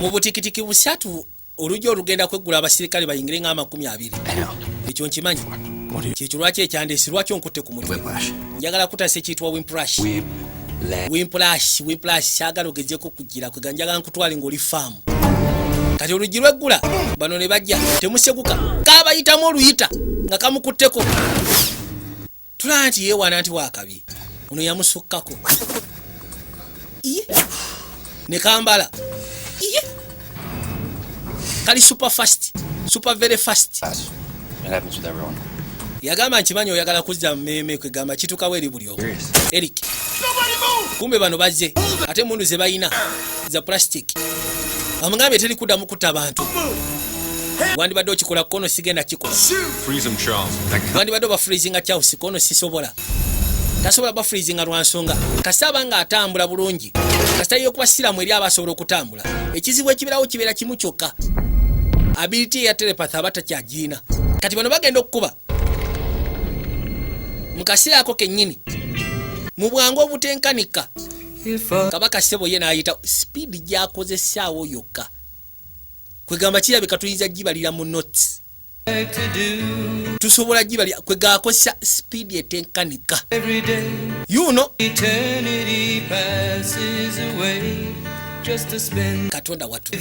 mu butikitiki busatu oluggi olugenda kweggula abasirikale bayingire nga amakumi abiri ekyo nkimanyi kyekyo lwaki ekyandeesi lwaki onkutte ku mutwe njagala kutasa ekiyitibwa wimprash wimplash wimplash kyagala ogezeko kugira kwega njagala nkutwale ngaoli faamu kati oluggi lweggula bano ne bajja temuseguka kabayitamu oluyita nga kamukutteko tulaba nti yeewana nti waakabi ono yamusukkako iye ne kambala iye kali super fast super very fast yagamba nkimanyi oyagala kuzza mumeme kwegamba kitukawo eri buli omu eric kumbe bano bazze ate mundu ze balina za plastic amugambye teri kuddamu kutta bantu wandibadde okikola kono sigenda kikola wandibadde oba freezinga charles kono sisobola tasobola ba freezinga lwa nsonga kasita aba nga atambula bulungi kasita yokuba siramu eri aba asobola okutambula ekizibu ekiberawo kibeera kimu kyokka ability eya telepath aba takyagiina kati bano bagenda okukuba mu kaseera ako kennyini mu bwangu obutenkanika kabaka sebo ye nayita sipiidi gyakozesaawo yokka kwegamba kirabika tuyinza gibalira mu notes tusobola gibali kwegakozesa sipiidi etenkanika yuno katonda watu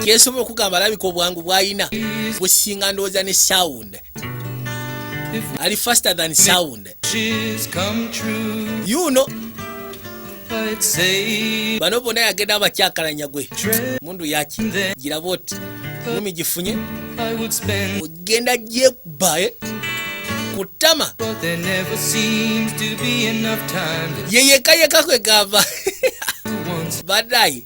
kyesobola okugamba alabika obwangu bwalina businga ndowooza ne sound ali faster than sound you know bano bona yagenda abakyakalanya gwe mundu yaki giraba oti mumi gifunye ogenda gyekubae eh? kutama yeyekayeka kwegamba badayi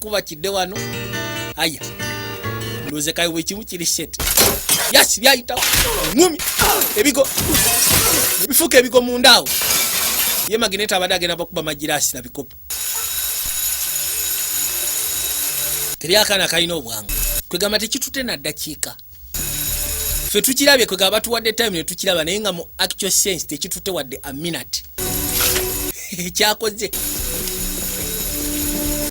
kuba kidde wano aya ndoze kayo bwe kimu kiri shit yasi byayita ngumi ebigo ebifuka ebigo mu ndaawo ye magnet abadde agenda bakuba magirasi na bikopo teri akaana kalina obwangu kwegamba tekitute na ddakiika fe tukirabye kwegamba batuwadde time netukiraba naye nga mu actual sense tekitute wadde a minute ekyakoze